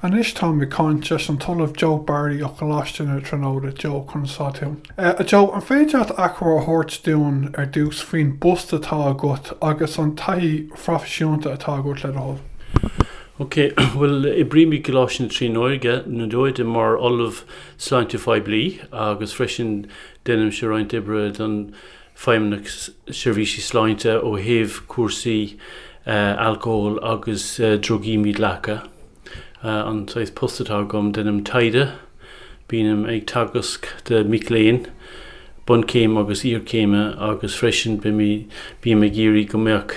Anois táim ag caint leis an tOllamh Joe Barry ó Choláiste na Tríonóide. Joe, conas atá tú? Joe, An féidir leat achoimre a thabhairt dúinn ar dtús faoin bpost atá agat agus an taithí phroifisiúnta atá agat le do thoil? Ok, bhuel, oibrím i gColáiste na Tríonóide ar ndóigh mar Ollamh Sláinte Phoiblí agus freisin déanaimse roinnt oibre don Feidhmeannach Seirbhísí Sláinte ó thaobh cúrsaí alcóil agus drugaí mídhleathacha. An saghas post atá agam, deinim taighde, bínim ag teagasc do mhic léinn bunchéime agus iarchéime agus freisin bím ag iarraidh go mbeadh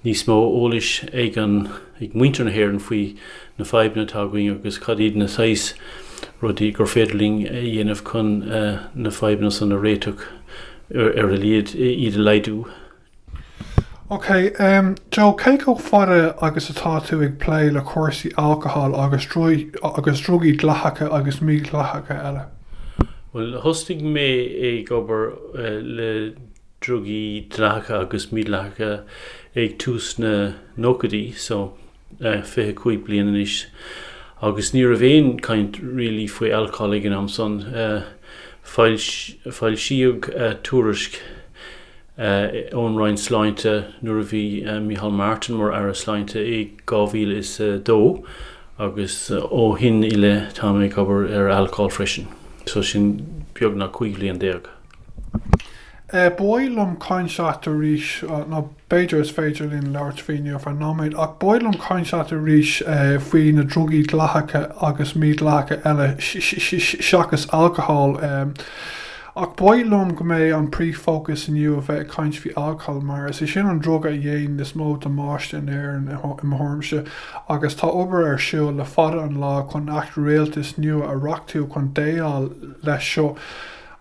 níos mó eolais ag an ag muintir na hÉireann faoi na fadhbanna atá againn agus cad iad na saghas rudaí gur féidir linn a dhéanamh chun na fadhbanna san a réiteach ar a laghad, iad a laghdú. Ok, Joe, cé comh fada agus atá tú ag plé le cúrsaí alcóil agus drugaí dleathacha agus mídhleathacha eile? Bhuel, thosaigh mé ag obair le. drugaí dleathacha agus mídhleathacha ag tús na nóchaidí so, 25 bliain anois agus ní raibh aon chaint really faoi alcól ag an am san. Foilsíodh tuairisc ón Roinn Sláinte nuair a bhí Micheál Martin mar Aire Sláinte i 2002 agus ó shin i leith tá mé ag obair ar alcól freisin so sin beagnach 15 bhliain. Ba mhaith liom caint leat arís, nó b'fhéidir is féidir linn labhairt faoi inniu ar feadh nóiméad, ach ba mhaith liom caint leat arís faoi na drugaí dleathacha agus mídhleathacha eile seachas alcohol. Ach ba mhaith liom go mbeidh an príomhfhócas inniu a bheith ag caint faoi alcohol mar is é sin an druga a dhéanann is mó damáiste in Éirinn i mo thuairimse agus tá obair ar siúl le fada an lá chun Acht Rialtais nua a reachtú chun déileáil leis seo.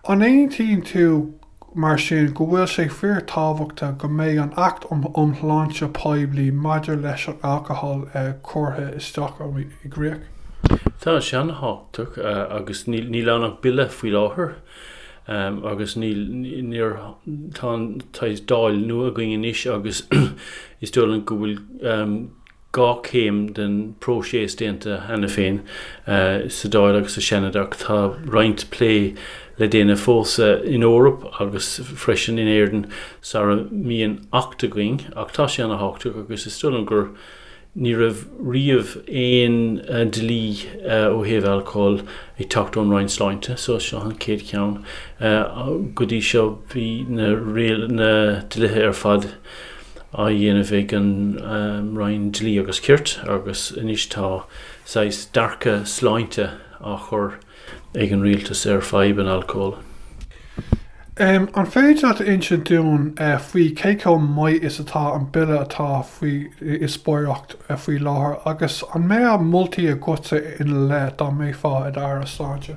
An aontaíonn tú, mar sin, go bhfuil sé fíorthábhachtach go mbeidh an Acht um Shláinte Poiblí maidir leis an Alcohol curtha isteach i gcríoch? Tá sé an-tábhachtach agus níl ann ach Bille faoi láthair agus níl, níor, tá an, tá Dáil nua againn anois agus is dóigh liom go bhfuil dhá chéim den phróiseas déanta cheana féin, sa Dáil agus sa Seanad, ach tá roinnt plé le déanamh fós san Eoraip agus freisin in Éirinn sara mbíonn Acht againn. Ach tá sé ana thábhachtach agus is dóigh liom gur ní raibh riamh aon dlí ó thaobh alcóil ag teacht ón Roinn Sláinte, so is seo an chéad cheann. Go dtí seo bhí na dlithe ar fad, á dhéanamh ag an Roinn Dlí agus Cirt agus anois tá saghas dearcadh sláinte á chur ag an Rialtas ar fhadhb an alcóil. An féidir leat a insint dúinn faoi cé chomh maith is atá an Bille atá faoi dhíospóireacht faoi láthair agus an mbeadh moltaí agatsa ina leith dá mbeifeá i d'Aire Sláinte?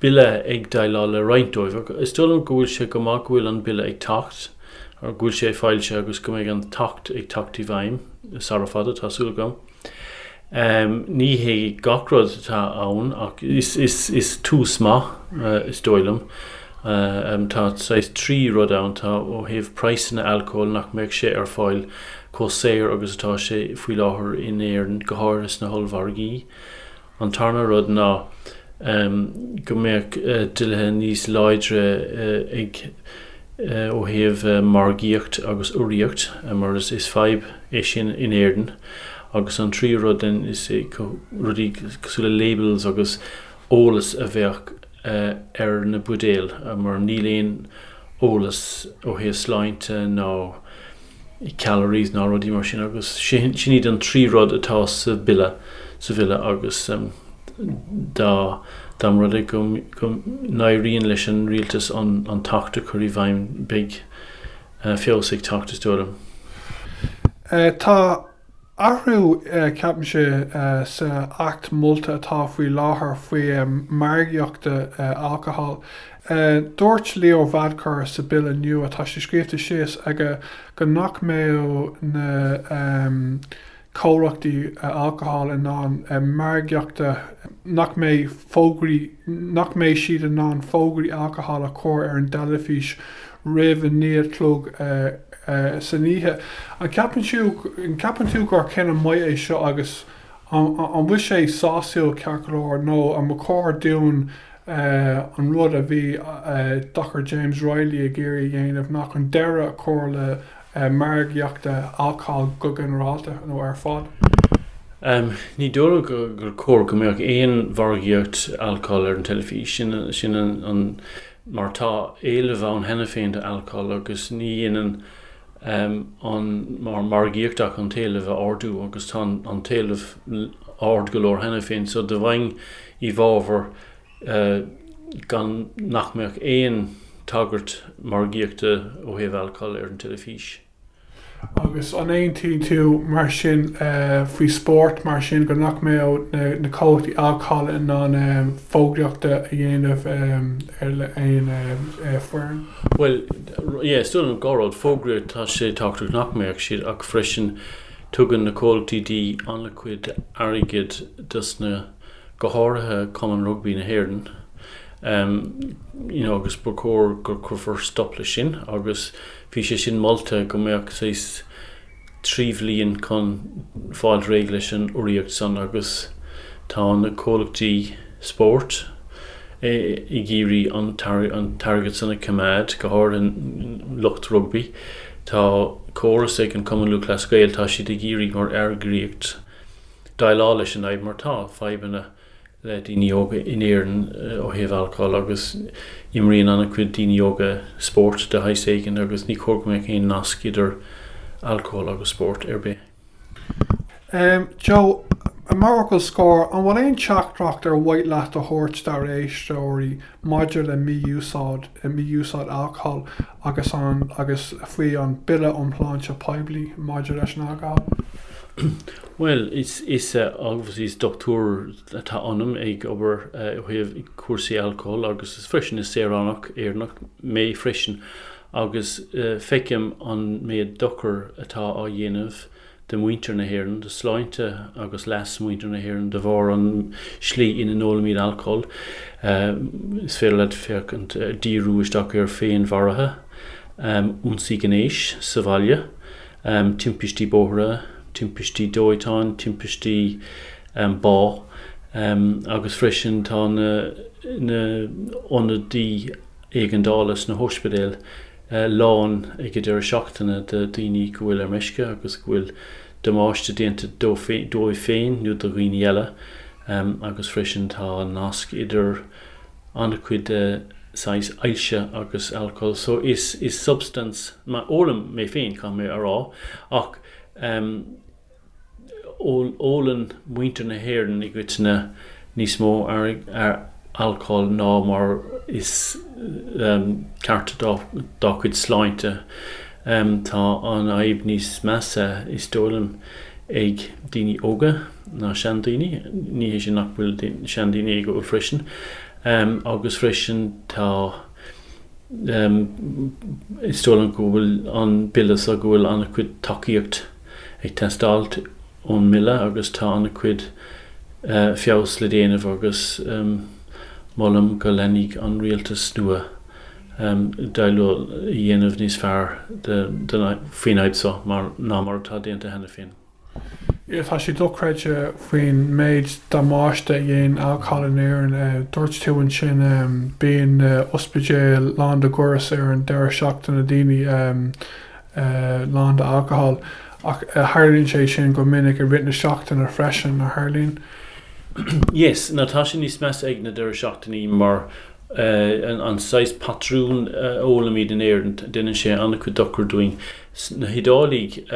bille ag déileáil le roinnt díobh ach is dóigh liom go bhfuil sé go maith go bhfuil an Bille ag teacht, go bhfuil sé foilsithe agus go mbeidh an tAcht ag teacht i bhfeidhm sara fada, tá súil agam. Ní hé gach rud atá ann ach is tús maith is dóigh liom. Tá saghas trí rud ann, tá ó thaobh praghsanna alcóil nach mbeadh sé ar fáil chomh saor agus atá sé faoi láthair in Éirinn, go háirithe sna hollmhargaí. An tarna rud ná go mbeadh dlíthe níos láidre ag ó thaobh margaíocht agus urraíocht mar is fadhb é sin in Éirinn. Agus an tríú rud then is rudaí cosúil le labels agus eolas a bheadh ar na buidéil mar níl aon eolas ó thaobh sláinte ná calories ná rudaí mar sin agus sin iad an trí rud atá sa bhille sa bhille agus dá dá mba rud é go go n-éiríonn leis an rialtas an an tAcht a chur i bhfeidhm beidh feabhas ag teacht is dóigh liom. Tá Athrú ceapaimse sa Acht molta atá faoi láthair faoi margaíochta alcohol. Dúirt Leo Varadkar sa Bille nua atá sé scríobhta síos aige go nach mbeadh na comhlachtaí alcohol in ann margaíochta nach mbeidh fógraí nach mbeidh siad in ann fógraí alcohol a chur ar an dteilifís roimh a naoi a chlog san oíche. An ceapann tú gur cinneadh maith é seo agus an bhfuil sé sásúil ceart go leor nó an ba chóir dúinn an rud a bhí Dr James Reilly ag iarraidh a dhéanamh ná chun deireadh a chur le margaíochta alcóil go ginearálta nó ar fad? Ní dóigh liom gur cóir go mbeadh aon mhargaíocht alcóil ar an teilifís, sin an mar tá éileamh ann cheana féin do alcól agus ní dhéanann an margaíocht ach an t-éileamh a ardú agus tá an t-éileamh ard go leor cheana féin so do bheinn i bhfabhar gan nach mbeadh aon tagairt margaíochta ó thaobh alcól ar an teilifís. Agus an aontaíonn tú mar sin faoi spórt mar sin nach mbeadh na comhlachtaí alcála in ann fógraíochta a dhéanamh ar le aon foireann? Bhuel, yeah, is dóigh liom go bhfuil fógraíocht, tá sé tábhachtach nach mbeadh siad ach freisin tugann na comhlachtaí dí an-chuid airgead dos na, go háirithe Cumann Rugbaí na hÉireann, em, you know, agus ba chóir go cuirfear stop le sin agus Bhí sé sin molta go mbeadh saghas trí bhliain chun fáil réidh leis an urraíocht san agus tá na comhlachtaí spóirt ag iarraidh an t-airgead san a choimeád, go háirithe lucht rugbaí. Tá córas ag an Cumann Lúthchleas Gael, tá siad ag iarraidh mar eagraíocht déileáil leis an fhadhb mar tá fadhbanna, le daoine óga in Éirinn ó thaobh alcóil agus imríonn an-chuid daoine óga spórt de shaghas éigin agus ní chóir go mbeadh aon nasc idir alcól agus spórt ar bith. Joe, mar fhocal scoir, an bhfuil aon teachtaireacht ar mhaith leat a thabhairt dár éisteoirí maidir le mí-úsáid, mí-úsáid alcóil agus an agus faoi an Bille um Shláinte Poiblí maidir leis an Alcól. Bhuel, is, obviously is dochtúir atá ionam ag obair ó thaobh cúrsaí alcóil agus is freisin is saoránach Éireannach mé freisin agus feicim an méid dochar atá á dhéanamh do mhuintir na hÉireann, do shláinte agus leas mhuintir na hÉireann de bharr an slí ina n-ólaimid alcól. Is féidir leat féachaint díriú isteach ar féinmharuithe, ionsaí gnéis sa bhaile, timpistí bóithre, timpistí dóiteáin, timpistí bá agus freisin tá na ionadaí éigeandála sna hóispidéil lán ag an deireadh seachtaine de dhaoine go bhfuil ar meisce agus go bhfuil damáiste déanta dóibh féin nó do dhaoine eile agus freisin tá nasc idir an-chuid de saghas ailse agus alcól so is substance má ólaim mé féin caithfidh mé a rá ach Ólann muintir na hÉireann i gcoitinne níos mó alcóil ná mar is ceart dá gcuid sláinte. Tá an fhadhb níos measa, is dóigh liom, ag daoine óga ná seandaoine. Ní hé sin nach bhfuil seandaoine ag ól freisin, agus freisin tá, is dóigh liom go bhfuil an bille seo, go bhfuil an-chuid tacaíocht, ag teastáil ón mbille agus tá an chuid feabhas le déanamh agus molaim go leanfaidh an rialtas nua déileáil a dhéanamh níos fearr faoin fhadhb so ná mar atá déanta cheana féin. Ea, tá sé dochreidte faoin méid damáiste a dhein Al Cail in Éirinn. Dúirt tú ansin bíonn na hospidéil lán de ghoras ar an deireadh seachtaine, daoine. é lán d'alcohol ach tharlaíonn sé sin go minic i rith na seachtaine freisin, a tharlaíonn? Yes, nó tá sé níos measa ag na deireadh seachtainí mar an saghas patrún a ólaimid in Éireann, déanann sé an-chuid dochar dúinn. Sna hIodáiligh,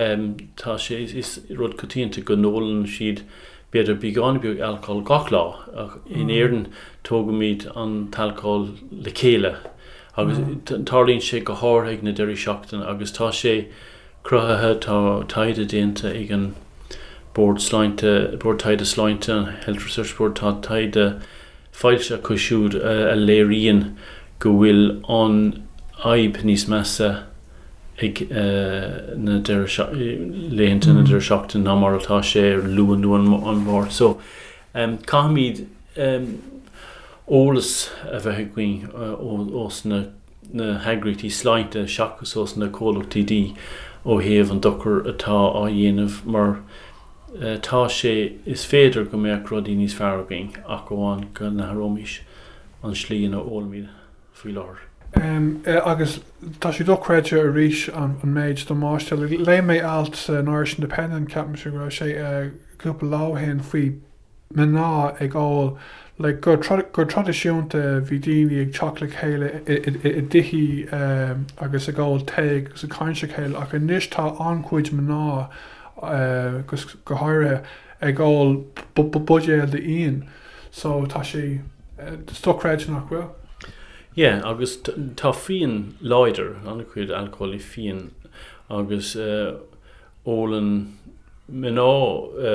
tá sé, is rud coitianta go n-ólann siad b'fhéidir beagáinín beag alcohol gach lá ach in Éireann tógaimíd an t-alcohol le chéile Agus tarlaíonn sé go háirithe ag na deireadh seachtaine agus tá sé cruthaithe, tá taighde déanta ag an Bord Sláinte, Bord Taighde Sláinte, an Health Research Board, tá taighde foilsithe acu siúd a léiríonn go bhfuil an fhadhb níos measa ag na laethanta na deireadh seachtaine ná mar atá sé ar Luan nó an Mháirt. So caithfimid. eolas a bheith againn os na heagraíochtaí sláinte seachas os na comhlachtaí dí ó thaobh an dochar atá á dhéanamh mar tá sé is féidir go mbeadh rudaí níos fearr againn ach amháin go n-athróimis an slí ina ólaimid faoi láthair. Agus tá sé dochreidte arís an méid damáiste. Léigh mé alt san Irish Independent, ceapaimse go raibh sé cúpla lá ó shin, faoi mná ag ól, le gur traidisiúnta bhí daoine ag teacht le chéile i dtithí agus ag ól tae agus ag caint le chéile ach anois tá an-chuid mná agus go háirithe ag ól buidéal d'fhíon so tá sé dochreidte nach bhfuil. Yeah agus tá fíon láidir an-chuid alcóil i fíon agus ólann mná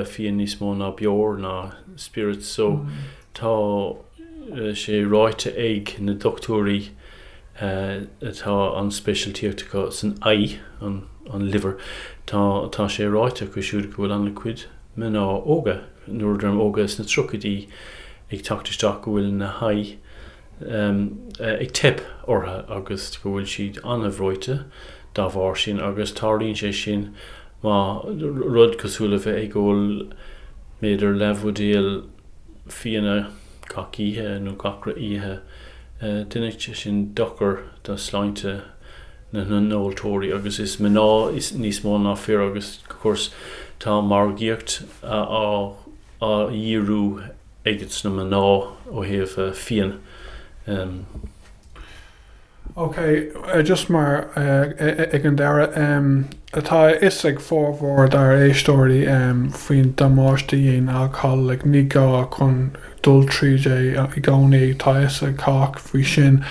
fíon níos mó ná beoir ná spirits so tá sé ráite ag na doctúirí atá an speisialtíocht acu san ae, an liver, tá tá sé ráite acu siúd go bhfuil an-chuid mná óga, nuair a deirim óga sna tríochaidí ag teacht isteach go bhfuil na hae, ag teip ortha agus go bhfuil siad an-bhreoite dá bharr sin agus tarlaíonn sé sin má rud cosúil le bheith ag ól b'fhéidir leathbhuidéal fíona gach oíche nó gach re oíche déanann sé sin dochar do shláinte na n-óltóirí agus is mná níos mó ná fir agus of course tá margaíocht á dhíriú aiges na mná ó thaobh fíon. Ok, just mar ag an deireadh, tá a fhios ag formhór dár éisteoirí faoin damáiste a dhéanann alcól, ní gá chun dul tríd é i gcónaí, tá a fhios ag cách faoi sin.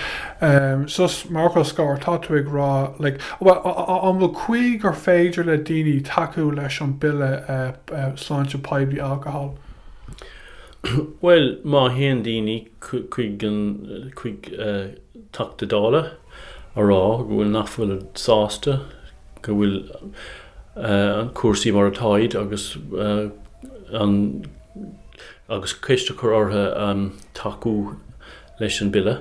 So, mar fhocal scoir, tá tú ag rá, an bhfuil caoi gur féidir le daoine tacú leis an Bille Sláinte Poiblí Alcól? Bhuel, má théann daoine chuig an, chuig Teachta Dála a rá go bhfuil, nach bhfuil sásta go bhfuil cúrsaí mar atáid agus an, agus ceist a chur orthu tacú leis an Bille,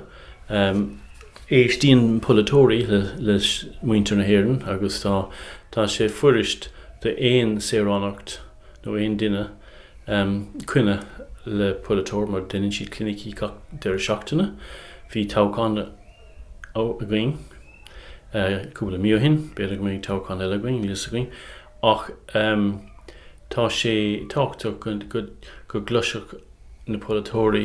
éisteann polaiteoirí le muintir na hÉireann agus tá, tá sé fuirist d'aon saoránach nó aon duine coinne le polaiteoir mar deineann siad clinicí gach deireadh seachtaine. Bhí toghchán againn cúpla mí ó shin, b'fhéidir go mbeidh toghchán eile againn, níl fhios againn, ach tá sé tábhachtach go gcloisfeadh na polaiteoirí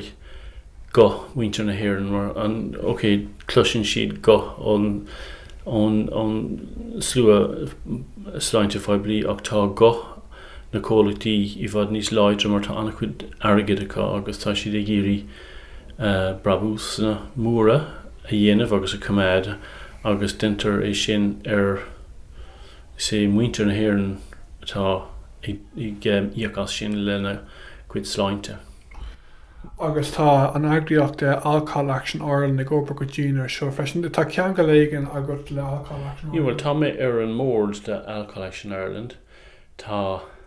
guth mhuintir na hÉireann mar an OK, cloiseann siad guth ón ón ón slua sláinte phoiblí ach tá guth na comhlachtaí i bhfad níos láidre mar tá an-chuid airgid acu agus tá siad ag iarraidh brabúsanna móra a dhéanamh agus a choimeád agus deintear é sin ar Is é muintir na hÉireann atá ag íoc as sin lena gcuid sláinte. Agus tá an eagraíocht Alcohol Action Ireland ag obair go dian air seo freisin. Tá ceangal éigin agat le Alcohol Action Ireland? Bhuel, tá mé ar an mbord de Alcohol Action Ireland. Tá.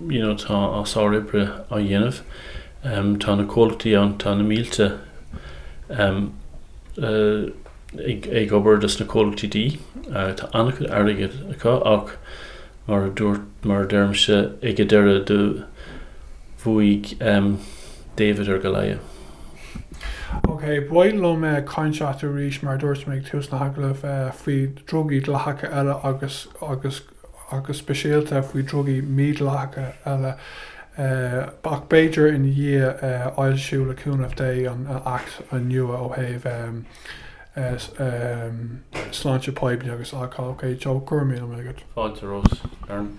you know tá sárobair á dhéanamh em tá na comhlachtaí ann tá na mílte em eh ag obair dos na comhlachtaí dí, eh tá an-chuid airgead acu ach mar a dúirt mar a deirimse ag an deireadh do bhuaigh em David ar Goliath. Ok ba mhaith liom eh caint leat arís mar a dúirt mé ag tús an agallaimh eh faoi drugaí dleathacha eile agus agus agus speisialta faoi drugaí mídleathacha eile, ach b'fhéidir ina dhiaidh a fhoilsiú le cúnamh Dé an Acht nua ó thaobh sláinte poiblí agus alcól. Ok Joe, go raibh míle maith agat. Fáilte romhat, a Rónáin.